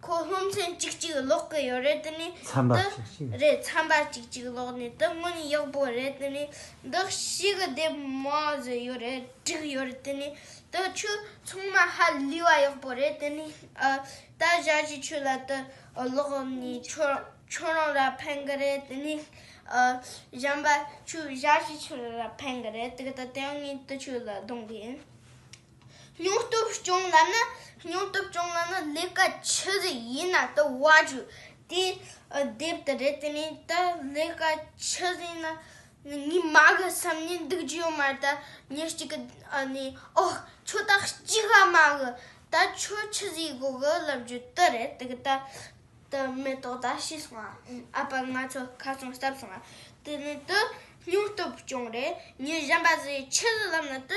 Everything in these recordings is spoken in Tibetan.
ཁོ་སློབ་ཚན་གཅིག་གཅིག་ཀློག་གི་ཡོད་རེད་དེ་ནི་འདི་རེད་ཚན་པ་གཅིག་གཅིག་ཀློག་ནས་དེ་སྔོན་ཡག་པོ་རེད་དེ་ནི་འདི་ཤེས་གི་དེབ་མ་བཟོས་ཡོད་རེད་བསྒྲིགས་ཡོད་རེད་དེ་ནི་དེ་ཆུ་ཚང་མ་ཧ་ལུས་བ་ཡག་པོ་རེད་དེ་ནི་ད་བཞག་གི་ཆུ་ལ་དེ་ཀློག་ནས་ཁྱོད་རང་ལ་ཕན་གི་རེད་དེ་ནི་གཞན་པ་ཆུ་བཞག་གི་ཆུ་ལ་ཕན་གི་རེད་དེ་ལྟ་དེ་ཡང་ངས་དེ་ཆུ་ལ་བསྡོང་གི་ཡིན། སྙིང་སྟོབས་སྐྱོང་ལམ་ནི་སྙིང་སྟོབས་སྐྱོང་ལམ་ནི་ལས་ཀ་ཆི་ཟིག་ཡིན་ན་དུ་བ་ཆུ་དེ་རྡེབ་དུ་རེད་དེ་ནས་ད་ལས་ཀ་ཆི་ཟིག་ན་ངའི་མ་གི་བསམ་ནི་འདུག་རྒྱུ་ཡོད་མ་རེད་ད་ཉིན་གཅིག་གི་ནས་ཨོ་ཁྱོ་ད་གཅིག་ཨ་མ་གི་ད་ཁྱོ་ཆི་ཟིག་སྒོ་གི་ལབ་རྒྱུ་དུ་རེད་དེ་གི་ད་ད་མེ་ཏོག་ད་ཤི་སོང་ཨ་ཨ་ཕ་ང་ཚོ་ཁ་ཚོང་བསྟབས་སོང་ཨ་དེ་ནས་དུ་སྙིང་སྟོབས་སྐྱོང་རེད་ཉིན་གཞན་པ་ཟིག་ཆི་ཟིག་ལབ་ན་དུ་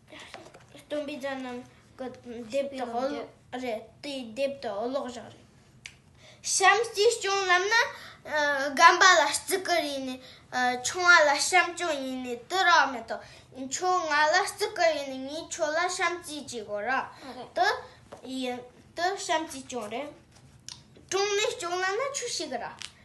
སྟོན་པའི་རྫ་རྣམས་ཀྱི་ལྡེབས་དང་འོ་ལོག་རེད། དེའི་ལྡེབས་དང་འོ་ལོག་བཞག་རེད། བྱམས་སྐྱིད་སྐྱོང་ལབ་ན་སྒམ་པ་ལ་བརྩི་བཀུར་ཡིན་ནི་ཆུང་བ་ལ་བྱམས་སྐྱོང་ཡིན་ནི་དུ་རག་མེད་དོ། ཁྱོད་ང་ལ་བརྩི་བཀུར་ཡིན་ནི་ངས་ཁྱོད་ལ་བྱམས་སྐྱིད་ཅེས་གོ་ར་དུ་ཡིན་དུ་བྱམས་སྐྱིད་སྐྱོང་རེད། ཀྲོང་ནི་སྐྱོང་ལབ་ན་ཆུ་ཞིག་ར།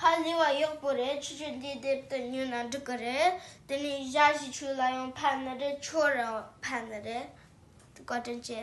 ཧ་ལས་བ་ཡག་པོ་རེད་ཆུ་ཆུ་འདི་དེབ་ཏུ་ཉོས་ན་འགྲིག་གི་རེད་དེ་ནས་ཞྭ་ཞིག་ཆུ་ལ་ཡང་ཕན་ནི་རེད་ཆུ་རུ་ཡང་ཕན་ནི་རེད་བཀའ་དྲིན་ཆེ།